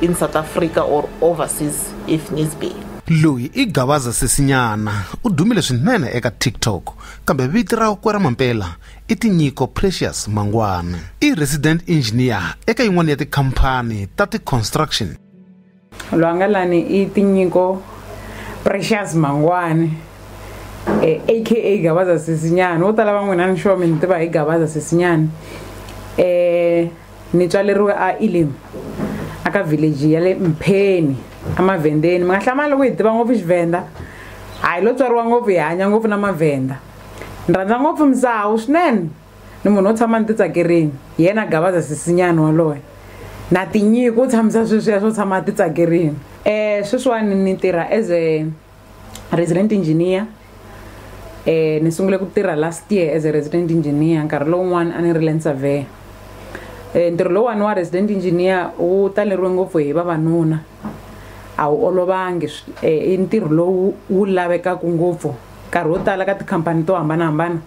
in south africa or overseas if needs be loyi i gavaza sesinyana u dumile swinene eka tiktok kambe vito rakwe ra mampela i tinyiko precious mangwana i resident engineer eka yin'wana ya tikhampani ta ti-construction loyi a nga lani i tinyiko precious mangwani eh, aka gabaza sisinyana wo tala van'wina ni xome ni tiva hi gabaza sisinyana eh, ni tswaleriwe a elim aka village ya le mpheni emavhendeni mi nga hlamali loko hi tiva ngopfu xivhenda hayi lo tswariwa ngopfu hi hanya ngopfu na mavhenda Ni rhandza ngopfu Mzawu swinene ni munhu wo tshama ni titsakerini hi yena Gavaza sisinyana waloye na tinyiko u tshamisa sweswiya swo tshama titsakerini um sweswiwani ni tirha as a resident engineer um ni sungule ku tirha last year as a resident engineer nkarhi lowun'wana a ni ri land surveyor um ntirho lowuwani wa resident engineer wu taleriwe ngopfu hi vavanuna a wu olovangi i ntirho lowu wu lavekaka ngopfu Nkarhi wo tala ka tikhampani to hambanahambana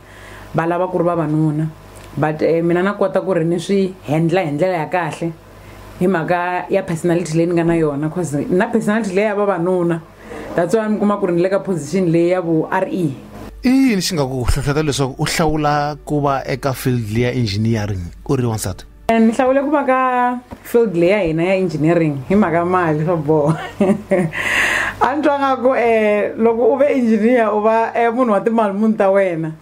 va lava ku ri vavanuna but eh, mina na kota ku ri ni swi handla hi ndlela ya kahle hi mhaka ya personality leyi ni nga na yona cause na personality leyi ya vavanuna that's why mi kuma ku ri ni le ka position leyi ya vu r e i yini xi nga ku hlohlota leswaku u hlawula ku va eka field ya engineering u ri wansati ni hlawule ku va ka field leyi ya hina ya engineering hi mhaka mali swa boha a ni twa nga ku um eh, loko u ve engineer u va um munhu wa timali munhu ta wena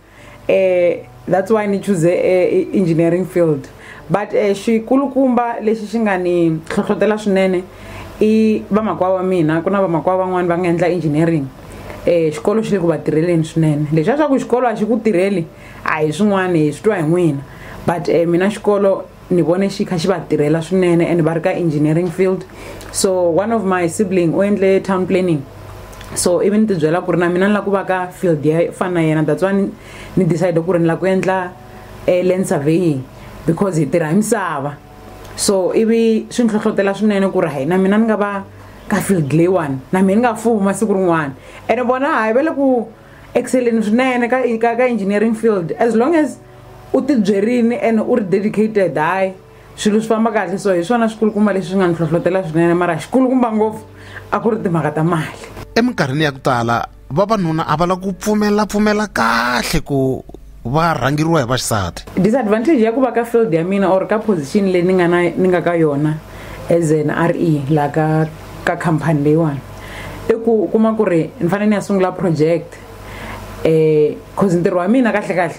um that's why ni choose um engineering field but um xikulukumba lexi xi nga ni hlohlotela swinene i vamakwavo wa mina ku na vamakwavo van'wani va nga endla engineering um xikolo xi le ku va tirheleni swinene lexi a swa ku xikolo a xi ku tirheli a hi swin'wana hi swi twa hi n'wina but um mina xikolo ni vone xi kha xi va tirhela swinene and va ri ka engineering field so one of my sibling u endle town planning so ivi ni tibyela ku ri na mina ni lava ku va ka field ya fana na yena that's why ni decide ku ri ni lava ku endla eh, land surveying because hi tirha hi misava so ivi swi ni hlohlotela swinene ku ri hayi na mina ni nga va ka field leyiwani na mina ni nga fuma siku rin'wana ene vona hayi va le ku exceleni swinene ka ka ka engineering field as long as u tibyerini and u ri dedicated hayi swilo swi famba kahle so hi swona swikulukumba leswi swi nga ni hlohlotela swinene mara xikulukumba ngopfu a ku ri timhaka ta mali eminkarhini ya ku tala vavanuna a va la ku pfumela pfumela kahle ku va rhangeriwa hi vaxisati disadvantage ya ku va ka field ya mina or ka position leyi ni nga na ni nga ka yona as an r e laha ka ka khampani leyiwani i ku u kuma ku ri ni fanele ni ya sungula project um cause ntirho wa mina kahle kahle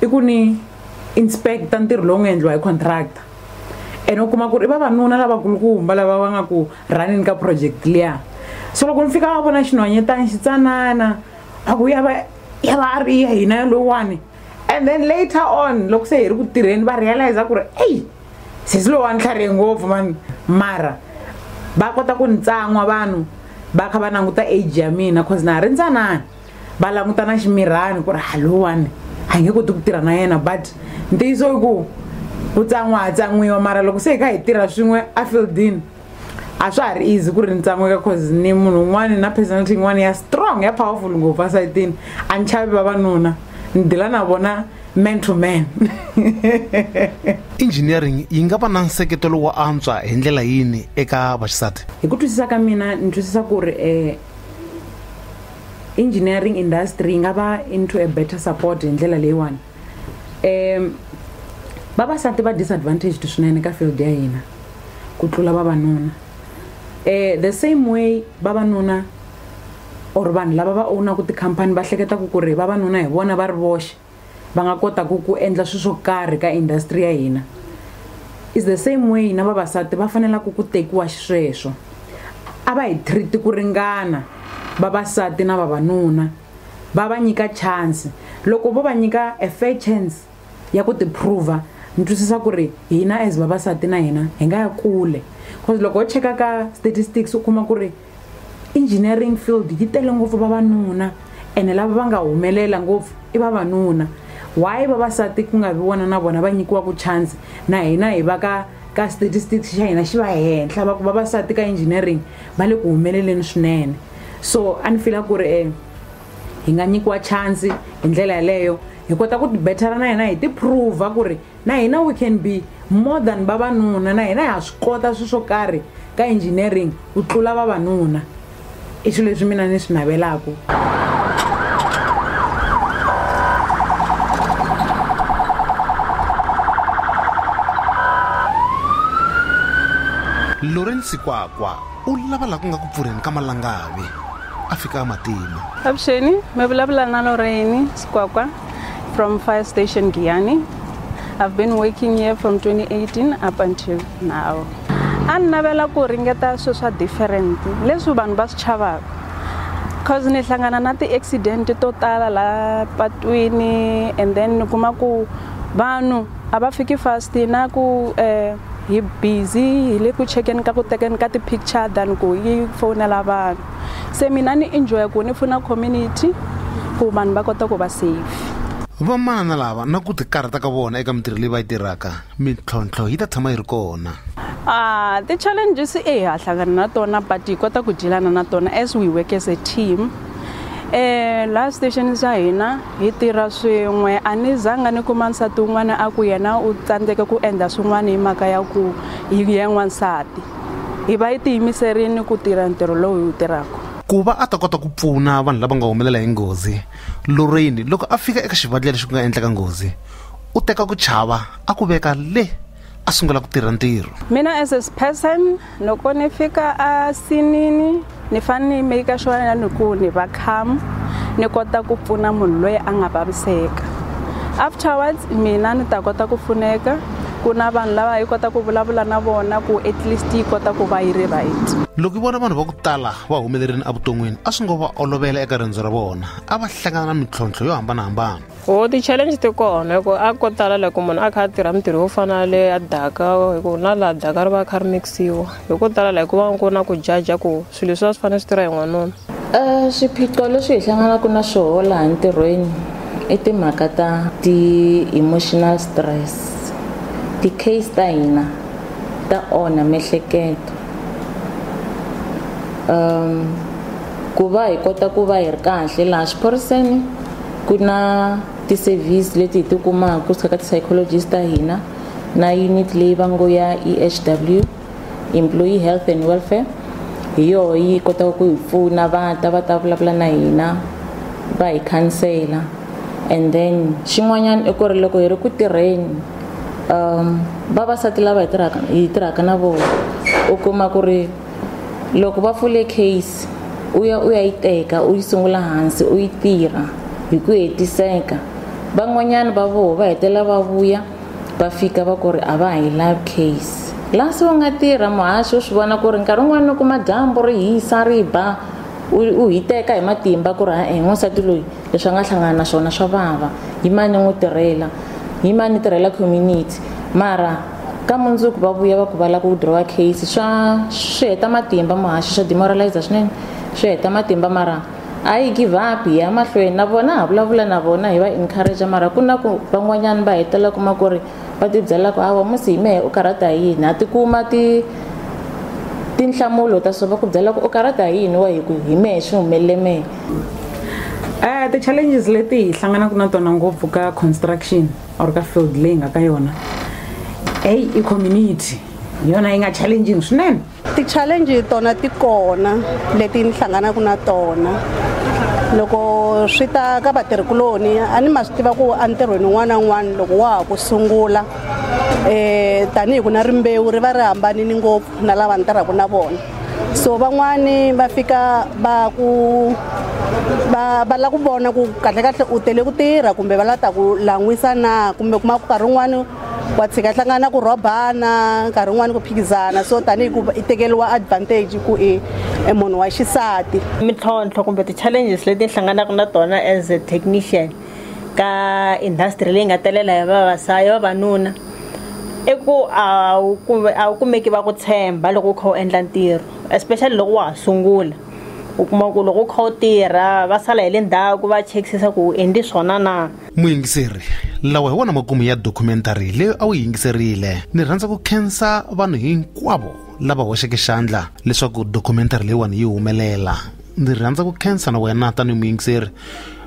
i ku ni inspecta ntirho lowu nga endliwa hi contractor ene u kuma ku ri i vavanuna lavakulukumba lava va nga ku rhanini ka project liya so loko ni fika va vona xinhwanyetani xi tsanana a ku ya va ya va a ri ya hina ya lowani and then later on loko se hi ri ku tirheni va realize ku ri eyi sesi lowu wa ni tlharihe ngopfu mani mara va kota ku ni tsan'wa vanhu va kha va languta age ya mina cause na ha ri ntsanani va languta na ximirhani ku ri halowani a nge koti ku tirha na yena but ntiyiso i ku ku tsan'wa ha tsan'wiwa mara loko se hi kha hi tirha swin'we a fieldini a swa ha ri easy ku ri ni tsan'weka cause ni munhu un'wana na personality yin'wana ya strong ya powerful ngopfu asayitini a ni chavi vavanuna ni dila na vona man to man engineering yi nga va na nseketelo wo antswa hi ndlela yini eka vaxisati hi ku twisisa ka mina ni twisisa ku ri um engineering industry yi nga va into a better support hi ndlela leyiwani um vavasati va disadvantaged swinene ka field ya hina ku tlula vavanuna um the same way vavanuna or vanhu lava va ownaku tikhampani va hleketaka ku ri vavanuna hi vona va ri voxe va nga kotaku ku endla swilo swo karhi ka industry ya hina is the same way na vavasati va fanelaka ku tekiwa xisweswo a va hi treat ku ringana vavasati na vavanuna va va nyika chance loko vo va nyika a fair chance ya ku tiprova ni twisisa ku ri hina as vavasati na hina hi nga ya kule cause loko ho cheka ka statistics u kuma ku ri engineering field yi tele ngopfu vavanuna ene lava va nga humelela ngopfu i vavanuna why vavasati ku nga vi wona na vona va nyikiwaku chance na hina hi va ka ka statistics xa hina xi va henhla va ku vavasati ka engineering va le ku humeleleni swinene so a ni fila ku ri e hi nga nyikiwa chance hi ndlela yaleyo hi kota ku tibethela na hina hi tiprova ku ri na hina we can be more than vavanuna na hina ha swi kota swilo swo karhi ka engineering ku tlula vavanuna i swilo leswi mina ni swi navelaka Lawrence Kwakwa u lava laha ku nga ku pfurheni ka malangavi a fika a matima avuxeni mi vulavula na loreni sikwakwa from fire station giyani i've been working here from 2018 up until now a ni navela ku ringeta swilo swa different leswi vanhu va swi chavaka cause ni hlangana na ti-accident to tala laha patwini and then ni kuma ku vanhu a va fiki fast na ku um hi busy hi le ku chekeni ka ku tekeni ka ti-picture than ku yi fowunela vanhu se mina ni enjoya ku ni pfuna community ku vanhu va kota ku va safe vamanana lava na ku tikarhata ka vona eka mintirho leyi va yi tirhaka mintlhontlho yi ta tshama yi ri kona a ti-challenges e hi ha hlangana na tona but hi kota ku dyelana na tona as we work as a team um laha station xa hina Hi tirha swin'we. A ni zanga ni kuma nsati un'wana a ku yena u tsandzeke ku endla swin'wana hi mhaka ya ku hi ye n'wansati. Hi va yi tiyimiserile ku tirha ntirho lowu hi wu tirhaka. Ku va a ta kota ku pfuna vanhu lava nga humelela hi nghozi, Lorraine loko a fika eka xivandlela lexi ku nga endleka nghozi, u teka ku chava a ku veka le a sungula ku tirha ntirho mina as a person loko ni fika a sinini ni fane ni make sure na ni ku ni va calm ni kota ku pfuna munhu loyi a nga vaviseka afterwards mina ni ta kota ku pfuneka ku na vanhu lava yi kota ku vulavula na vona ku at least yi kota ku va yi ri right loko yi vona vanhu va ku tala va humelerini evuton'wini a swi ngo va olovela eka riendzo ra vona a va hlangana na mintlhontlho yo hambanahambana Ho ti-challenge ti kona hi ku a ko tala loko munhu a kha a tirha mintirho yo fana le a daka hi ku na laha daka ri va kha ri mikisiwa hi ko tala laha ku va ku na ku jaja ku swilo leswi a swi fanele swi tirha hi n'wanuna um swiphiqo leswi hi hlanganaka na swoho laha ntirhweni i timhaka ta ti-emotional stress ti-case ta hina ta onha miehleketo um ku va hi kota ku va hi ri kahle laha xiphoriseni ku na ti-service leti hi ti kumaka kusuka ka ti-psychologist ta hina na unit leyi va ngo ya ehw employee health and welfare hi yoho yi kotaka ku hi pfuna va ta va ta vulavula na hina va hi khansela and then xin'wanyana i ku ri loko hi ri ku tirheni um vavasati lava hi tirhaka hi tirhaka na vona u kuma ku ri loko va pfule case u ya u ya yi teka u yi sungula hansi u yi tirha hi ku hetiseka van'wanyana va voho va hetelela va vuya va fika va ku ri a va ha yi love case laha se u nga tirha muhaxi u swi vona ku ri nkarhi wun'wana ni kuma dyambu ri hisa ri ba u hi teka hi matimba ku ri ha-e n'wansati loyi leswi a nga hlangana na swona swa vava hi mani n'wi tirhela hi mani tirhela community mara ka mundzuku va vuya va ku va lava ku withdrawa case swa swi heta matimba muhaxi swa demoralize swinene swi heta matimba mara a yi give up hi ya mahlweni na vona ha vulavula na vona hi va encourage mara ku na ku van'wanyana va hetelela kuma ku ri va tibyela ku hawa musi hi mehe u karhata hi yini ha tikuma ti tinhlamulo ta swo va ku byela ku u karhata hi yini wa hi ku hi mehe swi humelele mehe um ti-challenges leti hi hlanganaka na tona ngopfu ka construction or ka field leyi nga ka yona eyi i community hi yona yi nga challenging swinene ti-challenge tona ti kona leti ni hlanganaka na tona loko swi ta ka vatirhikuloni a ni ma swi tiva ku entirhweni un'wana na un'wana loko wa ha ku sungula um tanihi ku na rimbewu ri va ri hambanini ngopfu na lava ni tirhaka na vona so van'wani va fika va ku va va lava ku vona ku kahlekahle u tele ku tirha kumbe va lava ta ku lan'wisa na kumbe u kuma ku nkarhi wun'wani wa tshika hlangana na ku rhobana nkarhi wun'wani ku phikizana so tanihi ku i tekeriwa advantage ku i e munhu wa xisati mintlhontlho kumbe ti-challenges leti hlanganaka na tona as a technician ka industry leyi nga telela hi vavasati vavanuna i ku a wu kumbe a wu kumeki va ku tshemba loko u kha u endla ntirho especially loko wa ha sungula u kuma ku loko u kha u tirha va sala hi le ndzhaku va chekisisa ku u endli swona na muyingiseri lawa hi wona makumu ya documentary leyi a wu yingiserile ni rhandza ku khensa vanhu hinkwavo lava hoxeke xandla leswaku documentary leyiwani yi humelela ndzi rhandza ku khensa na wena tanihi muyingiseri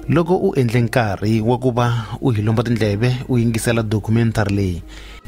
loko u endle nkarhi wa ku va u hi lomba tindleve u yingisela documentary leyi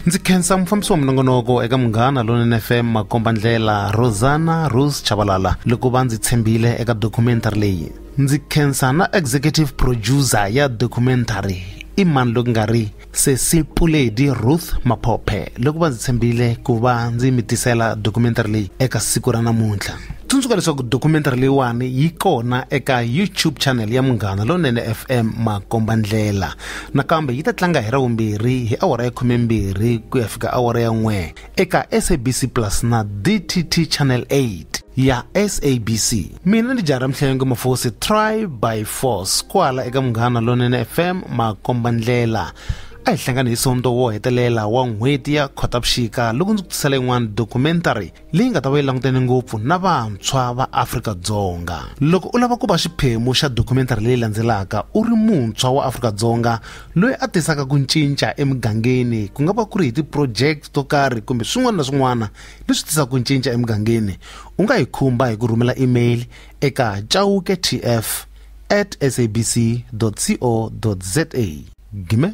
ndzi khensa mufambisi wa minongonoko eka munghana lonene fm makomba ndlela rosana rose chavalala loko va ndzi tshembile eka documentary leyi ndzi khensa na executive producer ya documentary i mani loku nga ri sesi puledi ruth maphophe loko va ndzi tshembile ku va ndzi mi tisela documentary leyi eka siku ra namuntlha tsundzuka leswaku documentary leyiwani yi kona eka youtube channel ya munghana lonene fm makomba ndlela nakambe yi ta tlanga hi ravumbirhi hi awara ya khumembirhi ku ya fika awara ya n'we eka SABC Plus na DTT Channel 8 ya SABC. Mina ndi Jara Mhlengwe Mafosi Try by Force kwala eka Munghana Lonene FM makomba ndlela. A hi hlangani hi sonto wo hetelela wa n'hweti ya Khotavuxika loko ndzi ku tisela yin'wana documentary leyi nga ta va yi langutene ngopfu na vantshwa va Afrika-Dzonga. Loko u lava ku va xiphemu xa documentary leyi landzelaka u ri muntshwa wa Afrika-Dzonga loyi a tisaka ku cinca emugangeni ku nga va ku ri hi ti-project to karhi kumbe swin'wana na swin'wana leswi tisaka ku cinca emugangeni u nga hi khumba hi ku rhumela email eka chauke tf at sabc co za gime